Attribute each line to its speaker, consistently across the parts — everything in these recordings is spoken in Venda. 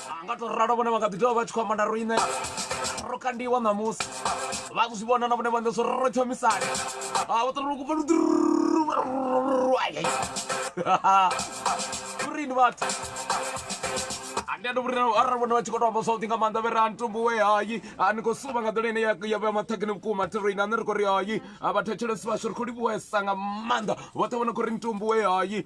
Speaker 1: a nga to ralo vhone vha nga ḓi tovha vha tshi khou amba na riṋe ro kandiwa ṋamusi vha zwi vhona na vhone vha ndo so ro thomisane a vha ṱoḓa kupa lurini vhathu ndi a tovhurina arali vhone vha tshi khou to amba zwavhuḓi nga maanḓa vhere a ni tombowe hayi a ni khou suvha nga ḓola ine ya vhea maṱhakheni vhukuma thirina ane ri khou ri hayi a vhathetshelesi vhashu ri khou livhuwesa nga maanḓa vhoṱhe vho no khou ri ni tombowe hayi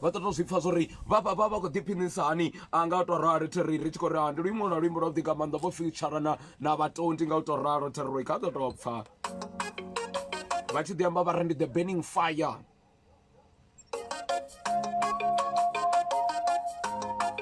Speaker 1: vha ḓo tou zwi pfha zwori vha vha vha vha khou ḓiphinisa hani a nga u tou rali theri ri tshi khou ri ha ndi luimbo lwa luimbo lwa vhuḓi nga maanḓa vho future na na vhatondi nga u tou ralo theri kha ḓo tou pfha vha tshi ḓi amba vha ri ndi the burning fire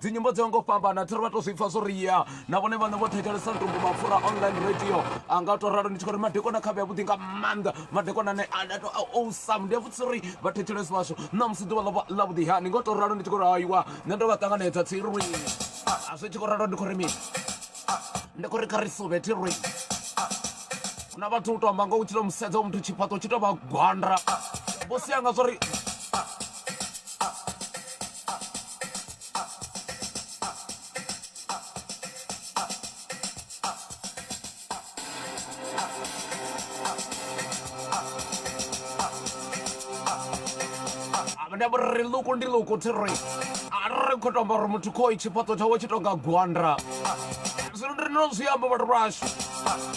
Speaker 1: dzi nyimbo dzo ngo fhambana thiri vha to zwi pfa zwo ri ya na vhone vhane vho thetshelesa ndumbu mapfura online radio a nga to ralo ndi tshi khou ri madekwana khavhe a vhuḓi nga maanḓa madekwana ane a to awesome ndi a vhudzisa uri vha thetshelesi vhashu na musi ḓuvha ḽa vhuḓi hani ngo to ralo ndi tshi khou ri haiwa nṋe ndo vha ṱanganedza tsirwi a zwi tshi khou ralo ndi khou ri mini ndi khou ri kha ri suvhe thirwi na vhathu u to amba nga u tshi to musedza muthu tshifhaṱo tshi to vha gwanda vho sia nga zwo ri ri ḽuku ndi ḽuku thi ri ri khou tomba uri muthu khoi tshifhaṱo tshawe tshi tonga gwanda zwino ndi rino zwi amba vhathu vhashu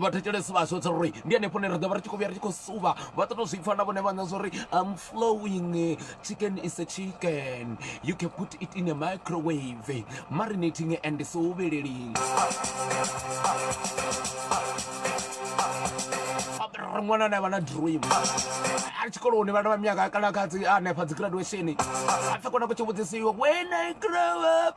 Speaker 1: vhathetshelesi vhashu tsho ri ndi hanefho ne ri ḓo vha ri tshi khou vhuya ri tshi khou suvha vha ṱoto zwi pfa na vhone vhaṋa zwa uri am flowing chicken is a chicken you can put it in a microwave marinating and suvheleling ṅwana ane avha na dream a tshikoloni vhana vha miyaka kana kha dzi hanefha dzi graduation a pfhe kona ku tshi vhudzisiwa when i grow up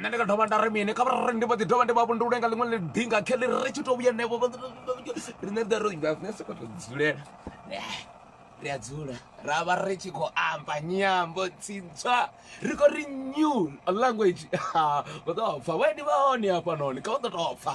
Speaker 1: nṋe ndi nga dovha nda ri mini kha vha ndi vha ḓi dovha ndi vha vhundule nga ḽiṅwe ḽidinga kheḽi ri tshi tou vhuya nevo riṋe ri ro ri soko to dzulela ri a dzula ra vha ri tshi khou amba nyambo tsintswa ri khou ri new language vha ḓo pfha vhaendi vha hone hafhanoni kha vha ḓo tou pfha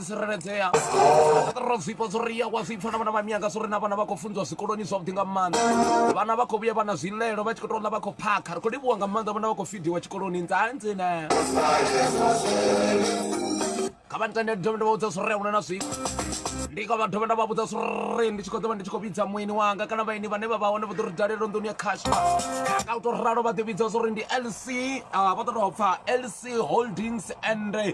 Speaker 1: tsireledzea ro zwifha zwo ri ya wa zwipfa na vhana vha mianga zwo ri na vhana vha khou funziwa zwikoloni zwavhuḓi nga maanḓa vhana vha khou vhuya vha na zwilelo vha tshi khou tou ḽa vha khou phakha ri khou livhuwa nga maanḓa vhana vha khou fidiwa tshikoloni nzanzina kha vha ntende ndi dovhe nda vha vhudza zwo ri huna na zwifha ndi kha vha dovhe nda vha vhudza zwo ri ndi tshi khou ḓovha ndi tshi khou vhidza mueni wanga kana vhaeni vhane vha vha hone vha ḓo ri dalela nḓuni ya khashu nga u tou ralo vha ḓi vhidza zwo ri ndi lc ah, vha ḓo tou pfa lc holdings and eh,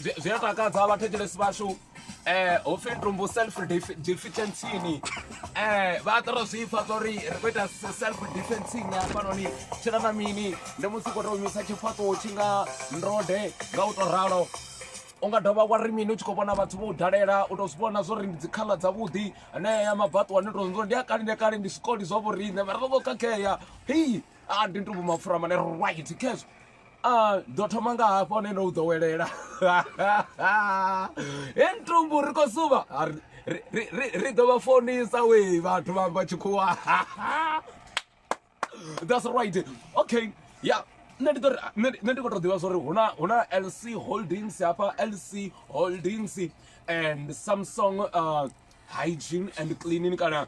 Speaker 1: Zwi zwi a takadza vhathetshelesi vhashu ho pfhi ntumbu self defeatencini vha a ṱora zwi pfha zwa uri ri khou ita self defencing hafhanoni tshi na na mini ndi musi u khou tou humisa tshifhaṱuwo tshi nga ndode nga u tou ralo u nga dovha wa ri mini u tshi khou vhona vhathu vho u dalela u tou zwi vhona zwo ri ndi dzi khaḽa dzavhuḓi anea ya mabaṱuwa ni tou ndi a kale ndi a kale ndi zwikoli zwa vho riṋe mara ro vho khakhea hei. a ndi ntubu mapfura mane right khezwo a ndo thoma nga hafho ne ndo u ḓowelela he ntumbu ri khou suvha A ri- ri- ri- ri- ri ḓo vha fonisa wee vhathu vha vha tshikhuwa that's right okay ya nṋe ndi ḓo ri- nṋe ndi- nṋe ndi khou tou ḓivha zwori huna huna lc holdings hafha lc holdings and samsung uh, hygiene and cleaning kana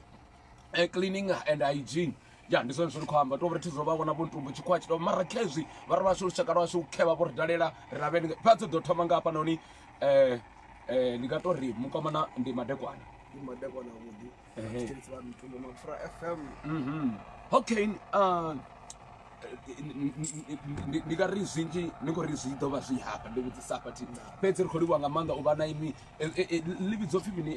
Speaker 1: eh, cleaning and hygiene ya ndi zwone zwiri khou amba tovhri thi zwo vha vhona vhontumbu tshikhuwa tshi to mara khezwi vha ri vhashu lushaka lwashu u khevha vho ri dalela ri lavheni vha dzo ḓo thoma nga hafha noni um um ndi nga to ri mukomana ndi madekwana mhm. okay um ndi nga ri zwinzhi ni khou ri zwi ḓo vha zwi hafha ndi vhudzisa hafha thi fhedzi ri khou livhuwa nga maanḓa u vha na imi e, e, e, ḽivhidzo pfhi mini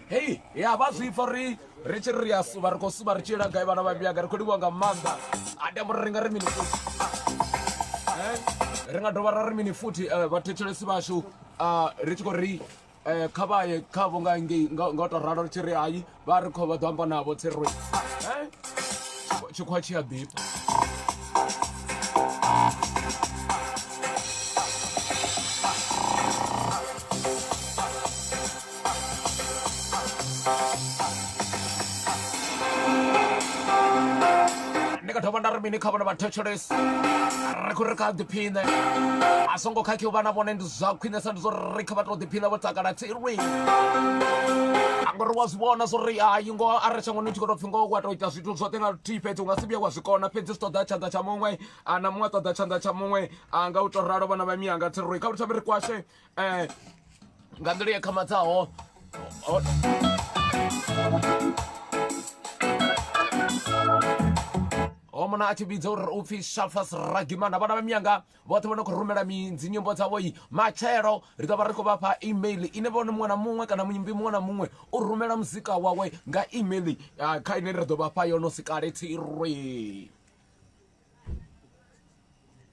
Speaker 1: hei ya vha zwi pfa ri ri tshi ri a suva ri khou suva ri tshi ila gai vhana vha miyaga ri khou livhiwa nga maanḓa a tamba uri ri nga ri mini futhi eh, ri nga dovha ra ri mini futhi eh, vhathetshelesi vhashu ah, ri tshi khou ri eh, kha vha ye khavho nga ngei nga u tou ralo ri tshi ri hai vha ri khou vha ḓo amba navho tshi ri tshikhuwa tshi a ḓifha ndi nga dovha nda ri mini kha vhona vhathetshelesi ri khou ri kha ḓiphiṋe a songo khakhi u vha na vhone ndi zwa khwinesa ndi zwo ri kha vha to ḓiphiṋa vho takala tsirwi ngori wa zwi vhona zwo ri hayi ngo a ri shangoni tshi khou tou pfhi ngo wa tou ita zwithu zwoṱhe nga luthihi fhedzi u nga si vhuye wa zwi kona fhedzi zwi ṱoḓa tshanḓa tsha muṅwe na muṅwe ṱoḓa tshanḓa tsha muṅwe nga u tou ralo vhana vha miyanga tsirwi kha vhuthavhi ri kwashe eh, nga nḓila ya khamadzaho homona a tshi vhidza uri u pfhi shafas ragimana vhana vha miyanga vhoṱhe vho no khou rumela midzi nyimbo dzavho i matshelo ri ḓo vha ri khou vha fha email ine vhone muṅwe na muṅwe kana muimbi muṅwe na muṅwe u rumela muzika wawe nga email ah, kha ine ri ḓo vha fha yono sikale tsirwe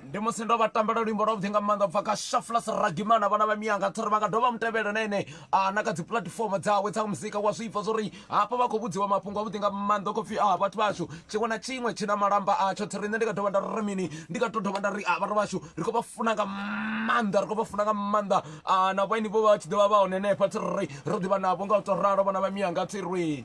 Speaker 1: ndi musi ndo vha tambela luimbo lwavhuḓi nga maanḓa bva kha shaflas ragimana vhana vha miyanga thori vha nga dovha mutevhela na ene ah, na kha dzi puḽatifomo dzawe dza muzika wa zwipfa zwo ri hafha vha khou vhudziwa mafhungo avhuḓi nga maanḓa khou pfi a ah, vhathu vhashu tshiṅwe na tshiṅwe tshi na malamba atsho thiri nṋe ndi nga dovha nda ri mini ndi nga to dovha nda ri a ah, vhathu vhashu ri khou vha funa nga maanḓa ri khou vha funa nga maanḓa na vhaini vho vha tshi ḓovha vha hone henefha thiri ro ḓivha navho nga u to ralo vhana vha miyanga thirwi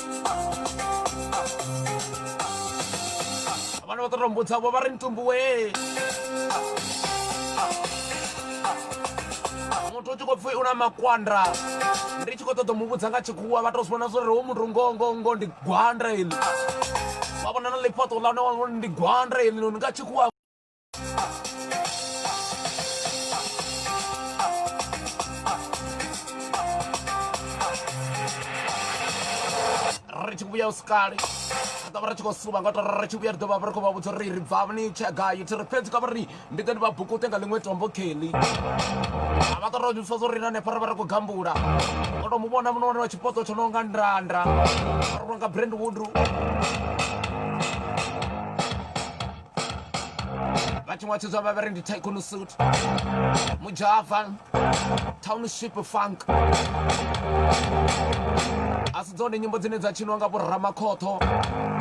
Speaker 1: vhana vha ṱorombo dzavho vha ri ntumbuwe muthu u tshi khou pfhi u na makwanda ndi tshi khou ṱoḓa mu vhudza nga tshikhuwa vha tou zwi vhona zwo ri ho muthu ngongongo ndi gwanda ili vha vhona na ḽifhaṱo ḽa hone ndi gwanda ili nga tshikhuwa ri tshi vhuya usikale ri ḓovha ri tshi khou suba ngoto ri tshi vhuya ri ḓovha ri khou vha vhudza uri ri bvavha ni tshia gai thi ri fhedzi ka vhari ndi ḓe ndi vha bukute nga ḽiṅwe tombo kelly a vha ṱora ni pfesa uri na hanefha ri vha ri khou gambula ngo to mu vhona muno wane wa tshipoto tsho no nga ndanda ri vhona nga brandwood vhathu nga tshidzwa vha vhari ndi tycoon suit mujava township funk a si dzone nyimbo dzine dza tshiniwa nga vhoramakhotho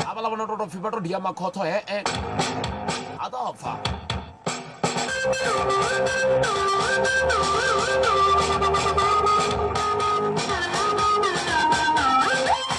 Speaker 1: havhala vhona to to pfhi vha to dia makhotho hee a ḓo pfa Thank you.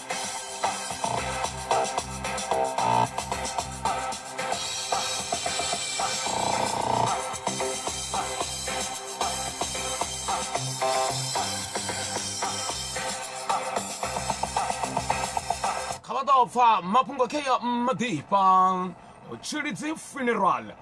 Speaker 1: kha vha ḓo pfa mafhungo khe ya maḓifha tshilidzi funeral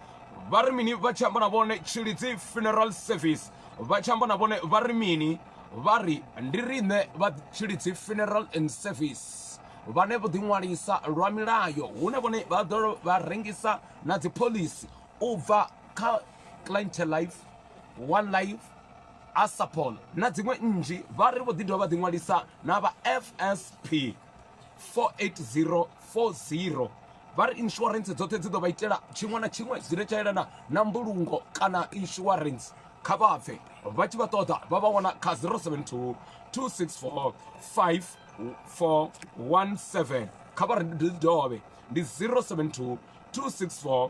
Speaker 1: vha ri mini vha tshi amba na vhone tshilidzi funeral service vha tshi amba na vhone vha ri mini vha ri ndi riṋe vha Tshilidzi Funeral and Service vhane vho ḓiṅwalisa lwa milayo hune vhone vha ḓo vha rengisa na dziphoḽisi u bva kha Client Life, One Life, Asapol na dziṅwe nnzhi vha ri vho ḓi dovha vha ḓiṅwalisa na vha FSP 480 40 vha ri insurance dzoṱhe dzi ḓo vha itela tshiṅwe na tshiṅwe zwi re tsha yelana na mbulungo kana insurance kha vha pfe vha tshi vha ṱoḓa vha vha wana kha 072 264 5417 kha vha ri ndi dovhe ndi 072 264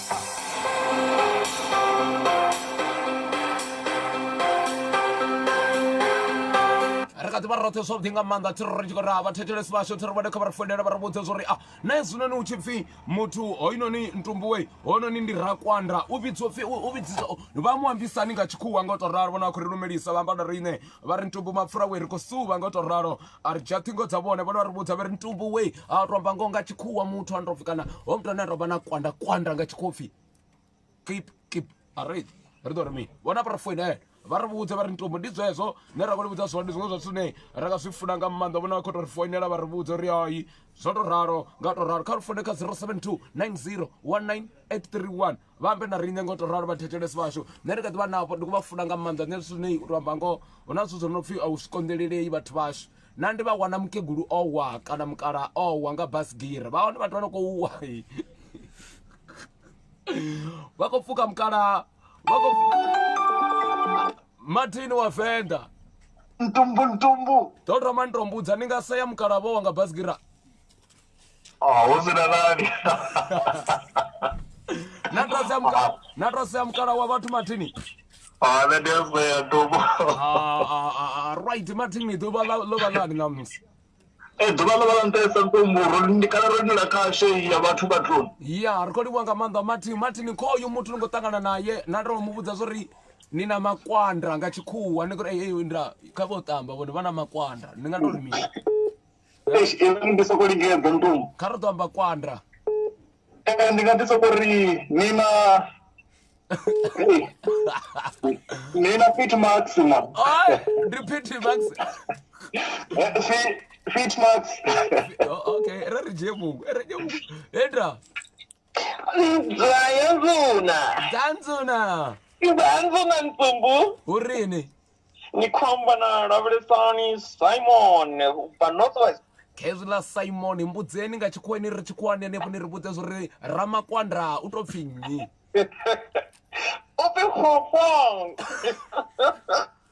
Speaker 1: ri kha ḓi vha roṱhe zwavhuḓi nga maanḓa thi ri tshi khou raha vhathethelesi vhashu thi ri vhone kha vha ri foinela vha ri vhudze zwo ri a na hezwinoni hu tshi pfhi muthu hoyunoni ntumbuwe hoyunoni ndi rakwanda u vhidzwa pfhi u u vhidzisa vha mu ambisani nga tshikhuwa nga u tou ralo vhona vha khou ri lumelisa vha amba na riṋe vha ri ntumbu mapfura we ri khou suvha nga u tou ralo a ri dzhia ṱhingo dza vhone vhone vha ri vhudza vha ri ntumbu wei a tou amba ngoho nga tshikhuwa muthu a ndopfi kana ho muthu ane a tou vha na kwanda kwanda nga tshikhopfi kip kip a ri ri ḓo ri mini vhona vha ri foinela vha ri vhudze vha ri ntumbu ndi zwezwo ne ra khou ni vhudza zwone ndi zwiṅwe zwa zwithu ne ra nga zwi funa nga maanḓa vhona vha khou tou ri foinela vha ri vhudze uri hai zwo tou ralo nga tou ralo kha ri foune kha 072 90 19 831 vha ambe na riṋe ngo to ralo vhathetshelesi vhashu nṋe ndi kha ḓivha navho ndi khou vha funa nga maanḓa nṋe zwithu zwine uri amba ngoho hu na zwithu zwo no pfhi a u zwi konḓelelei vhathu vhashu na ndi vha wana mukegulu o wa kana mukala o wa nga basgiri vha hone vhathu vha no khou wa vha khou pfuka mukala vha khou martin wa venḓa ntumbu ntumbu ḓo thoma ntombudza ni nga sea mukalavho wa nga basgira Oh, hu si na nani na to sea mukala wa vhathu mathini ah, ah, ah, right mathini ḓuvha ḽo vha lani ṋamusi ee ḓuvha ḽo vha ḽa nṱesa nṱomburo ndi kana ro nila khashe ya vhathu vhathuni ya ri khou livhuwa nga maanḓa mathini mathini khoyu muthu ni khou ṱangana naye na to mu vhudza zwo ri ni na makwanda nga tshikhuwa ni kuri eyi nda kha vho tamba vhone vha na makwanda ni nga tori mini eish inga ndi soko lingedza ntombo kha ri ḓo amba kwanda Eh, ndi nga ḓi soko ri ni na ni na fit maxima Oi, ndi pity max Eh, fi- fit max O- okay re ri dzhie muṅwe re dzhie muṅwe enda Dlaya ndzuna. Dlaya ndzuna. Dlaya ndzuna ntsumbu. U rini? Ni khomba na lavhelesani Simon ba Northwest. khezwi ḽa simon mbudzeni nga tshikhuwani ri tshikhuwani henefho ni ri vhudze zwo ri ramakwanda u tou pfhi nnyi u pfhi fofong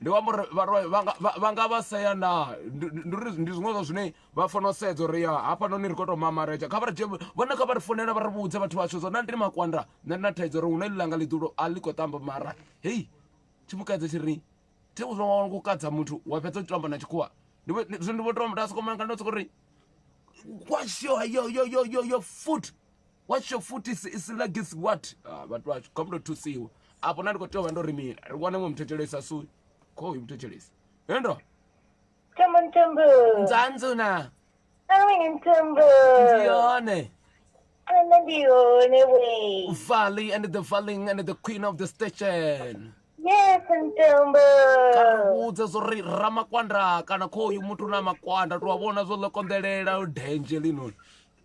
Speaker 1: Ndi amba uri vha nga vha sea naa ndi uri ndi zwiṅwe zwa zwine vha fanela u sedza uri ya hafhanoni ri khou tou mamaredzha kha vha ri dzhie vhone kha vha ri founela vha ri vhudze vhathu vhashu zwa nda ndi makwanda nṋe na thaidzo uri hu na ḽilanga ḽiḓulo a ḽi khou tamba mara hei tshimukadze tshi ri thi zwa wa ku kadza muthu wa fhedza u tshi amba na tshikhuwa ndi zwino ndi vho tou nda sokou manga ndo sokou ri kwasho yo yo yo yo yo foot watsho futhi is like is what ah, vhathu vhashu kho mndo thusiwa afho na ndi khou tea u vha ndo ri mini ri wane mwe muthetshelesa sui kho uyu muthetshelesi hendo thembo nthembo nzanzu na awini nthembo ndi yone nṋe ndi yone we valley and the falling and the queen of the station yes nthembo ka ri vhudze zwo ri ramakwanda kana kho uyu muthu na makwanda tou a vhona zwo ḽo konḓelela dendzhe linoni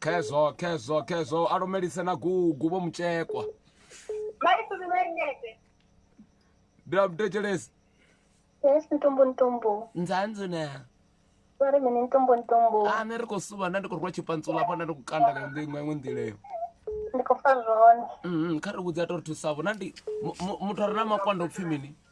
Speaker 1: khezwo khezwo khezwo a lumelise na gugu vho mutshekwa ndi a mutekelesi yes ntombo ntombo nzanzi ne vare mene ntombo ntombo a ah, ne ri khou suva nda ndi khou rwa tshipantsula afho nda ndi khou kanda nga nḓiṅwe iṅwe nḓileyo ndi khou fa zwone mm-hmm, kha ri vhudza to ri thusavho na ndi muthu a re na makwanda u pfhi mini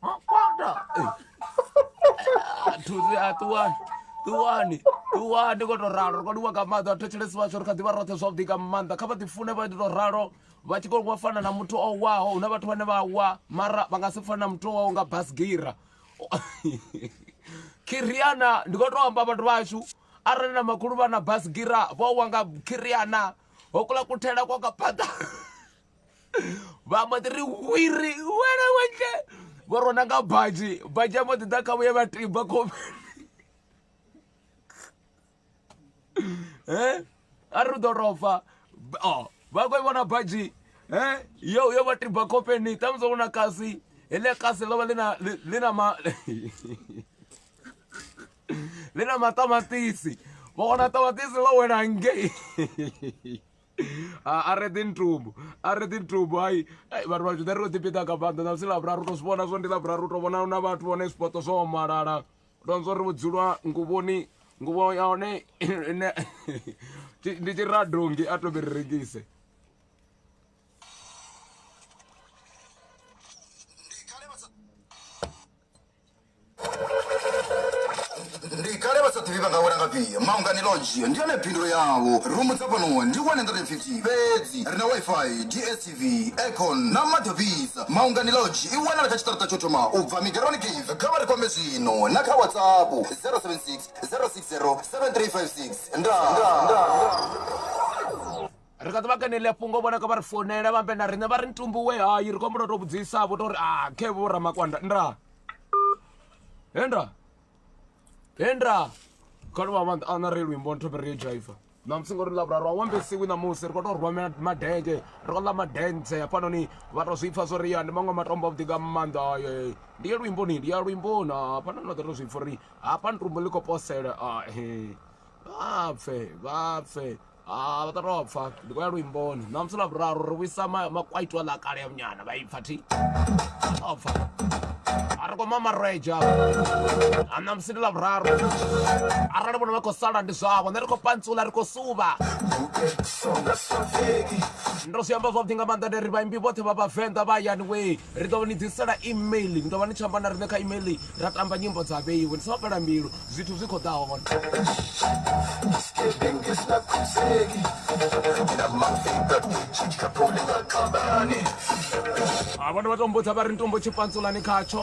Speaker 1: Huh? Fuck that. Tuzi atuwani. Tuwani. Tuwani ko to ralo ko diwa ka maḓa thetshelesi vhashu ri kha ḓi vha roṱhe zwavhuḓi nga maanḓa kha vha ḓi fune vha ḓi to ralo vha tshi kho fana na muthu o waho huna vhathu vhane vha wa mara vha nga si fana na muthu o waho nga basgira kiriana ndi khou tou amba vhathu vhashu arali na makhulu vha na basgira vho wa nga kiriana ho kula kuthela kwa ka phaḓa vha mbo ḓi ri wiri wena wentle vho rona nga badzhi badzhi a mbo ḓi ḓa kha vhuye vha tiba khofheni e a ri ḓo rofa o vha khou i vhona badzhi e yo yo vha tiba khofheni ṱhamusi ro na kasi heḽia kasi ḽo vha ḽi na ḽi na ma ḽi na maṱamaṱisi vha wana ṱamaṱisi ḽo wela ngei a re ḓi ntumbu a re ḓi ntumbu hai vhathu vha zwiḓa ri ro ḓipiṱa nga maanḓa na musi lavhuraru to zwi vhona zwo ndi lavhuraru u to vhona na vhathu vhone zwipoto zwo omalala to zwo ri vhudzulwa nguvhoni nguvho ya hone ndi tshiradongi a to ri rengise ndi kale vha sa ḓivhi vha nga wela nga fhia maungani lodge ndi yone phindulo yavho rumu dza fhano ndi 150 fhedzi ri na wifi dstv aircon na maḓi ofhisa maungani lodge i wanala kha tshiṱaraṱa tsho thoma u bva migaroni cave kha vha ri kwame zwino na kha whatsapp 076 060 7356 ndaa ri kha ḓi vha kanelea fhungo vhona ka vha ri founela vha mbe na riṋe vha ri ntumbu we hayi ri khou humbula u tou vhudzisa vho tou ri a khe vho ramakwanda nda henda henda khano vha maanḓa ana ri luimbo ntho ri jaifa namusi ngori lavhuraru a wambesiwi namusi ri khou tou rwa madenge ri khou ḽa madentse hafhanoni vha tou zwi pfha zwo ri ya ndi maṅwe matombo avhuḓi nga maanḓa aye ndi ya luimboni ndi ya luimboni hafhanoni vha ḓo tou zwi pfha uri hafha ntumbu ḽi khou posela ahe vha pfe vha pfe ha vha ṱato pfa ndi khou ya luimboni ṋamusi ḽa vhuraru ri vhuisa makwaitwa ḽa kale ya munyana vha ipfa thi o pfa a ri khou mamaredzha a ṋamusi ndi ḽa vhuraru arali vhona vha khou sala ndi zwavho nṋe ri khou pantsula ri khou suvha ndo zwi amba zwavhuḓi nga maanḓa nde ri vhaimbi vhoṱhe vha vhavenḓa vha hayani wee ri ḓo ni ḓisela email ni ḓo vha ni tshi amba na riṋe kha email ra tamba nyimbo dza vheiwe ni songo fhela mbilu zwithu zwi khou ḓa hone a vhona vha tombodza vha ri ni tombo tshipantsulani khatsho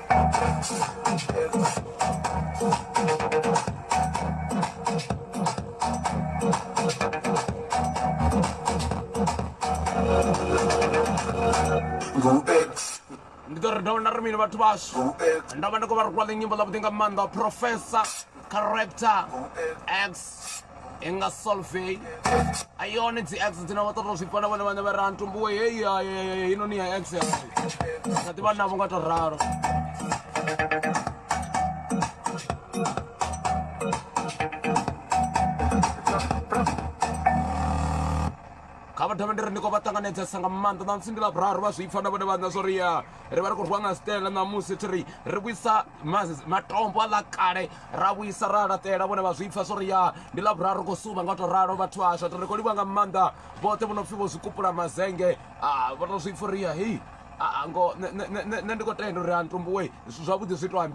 Speaker 1: ndi ḓo ri dovha nda ri mini vhathu vhashu nda vha ndi khou vha rikwa ḽi nyimbo ḽavhuḓi nga maanḓa professor character x i nga solvey a yone dzi x dzine vha ṱoḓa u zwi fana vhone vhane vha ra ntumbuwe heyi heinoni ya x yasi nga ḓivha navho nga to ralo kha vha thome ndi ri ndi khou vha ṱanganedzesa nga maanḓa ṋamusi ndi ḽa vhuraru vha zwi pfa na vhone vhaṋa zwo ri ya ri vha ri khou rwiwa nga sitele ṋamusi thi ri ri vhuisa matombo a ḽa kale ra vhuisa ra laṱela vhone vha zwi pfa zwo ri ya ndi ḽa vhuraru ri khou suva nga u tou ralo vhathu ashu ri khou livha nga maanḓa vhoṱhe vho no pfhi vho zwi kupula mazenge vho to zwi pfa uri ya hei ngo nṋe ndi khou tenda uri a ntumbuwe zwavhuḓi zwi to ambi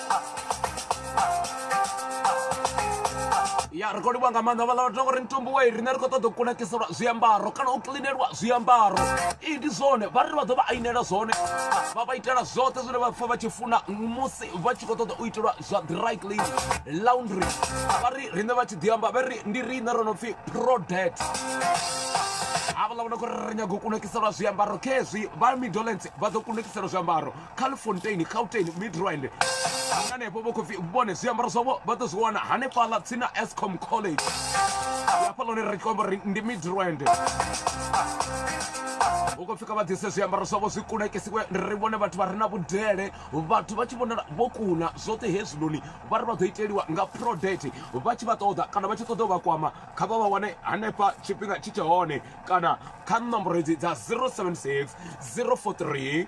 Speaker 1: ya ri khou livhuwa nga maanḓa vhaḽa vhathu ngori mitumbu wa riṋe ri khou ṱoḓa u kunakiselwa zwiambaro kana u kiḽinelwa zwiambaro i ndi zwone vha ri vha ḓo vha ainela zwone vha vha itela zwoṱhe zwine vha pfha vha tshi funa musi vha tshi khou ṱoḓa u itelwa zwa dry clean laundry vha ri riṋe vha tshi ḓi amba vha ri ndi riṋe ro no pfhi prodet havhaḽa vhona khou ri ri nyago u kunakiselwa zwiambaro khezwi vha midolence vha ḓo kunakiselwa zwiambaro califontain gauteng midrand hanganefho vho khopfi vhone zwiambaro zwavho vha ḓo zwi wana hanefhaḽa tsina escom college hafha lone ri kombo ri ndi midrand hu khou pfika vha ḓise zwiambaro zwavho zwi kunakisiwe ri vhone vhathu vha re na vhudele vhathu vha tshi vhonala vho kuna zwoṱhe hezwinoni vha ri vha ḓo iteliwa nga prodet vha tshi vha ṱoḓa kana vha tshi ṱoḓa u vha kwama kha vha vha wane hanefha tshifhinga tshi tshe hone kana kha ṋomboro hedzi dza 076 043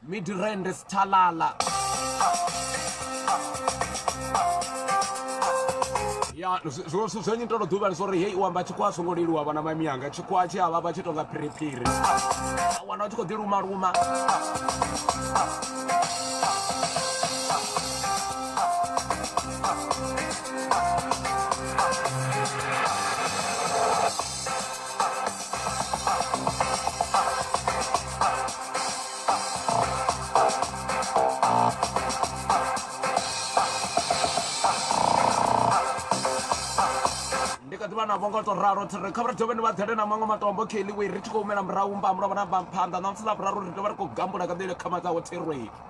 Speaker 1: Midrand Stalala. ya zwo zwithu zwenyi ndo ḓuvha ndi zwori hei u amba tshikhuwa a songo leluwa vhana mami yanga tshikhuwa tshi avha vha tshi tonga phiriphiri wana u tshi khou ḓi luma luma ndi kha ḓivha navho nga to ralo thiri kha vha ri dovhe ni vha ḓele na maṅwe matombo khe ḽiwe ri tshi khou humela murahu mba mulovha na bva phanḓa na musi ḽa vhuraru ri dovha ri khou gambula ka ḓele khama dzawo thirwei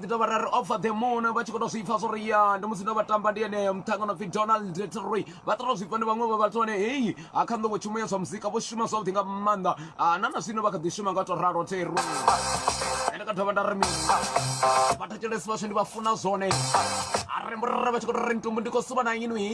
Speaker 1: ḓi tovha ra ri offer the moon vha tshi khou tou zwi pfa zwo ri ya ndi musi ndo vha tamba ndi ene muṱhanga no pfi donald troy vha ṱoḓa zwi pfa ndi vhaṅwe vha vhathu vhane heyi ha kha nḓowo tshumo ya zwa muzika vho shuma zwavhuḓi nga maanḓa ah, na na zwino vha kha ḓi shuma nga tou ralo thero ende ka dovha nda ri mini vhathetshelesi vhashu ndi vha funa zwone a re murere vha tshi khou tou ri ntumbu ndi khou suvha na inwi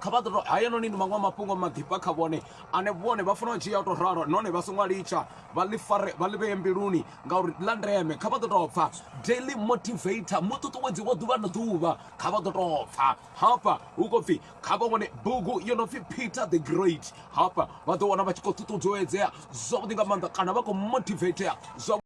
Speaker 1: kha vha ḓo haya noni ndi maṅwe mafhungo maḓifha kha vhone ane vhone vha fanela u dzhia tou ralo nahone vha songo litsha vha ḽi fare vha ḽi vheye mbiluni ngauri ḽa ndeme kha vha ḓo tou pfha daily motivator muṱuṱuwedzi wa ḓuvha na ḓuvha kha vha ḓo tou pfha hafha hu khou pfhi kha vha wane bugu yo no pfhi peter the great hafha vha ḓo wana vha tshi khou ṱuṱuwedzea zwavhuḓi nga maanḓa kana vha khou motivatea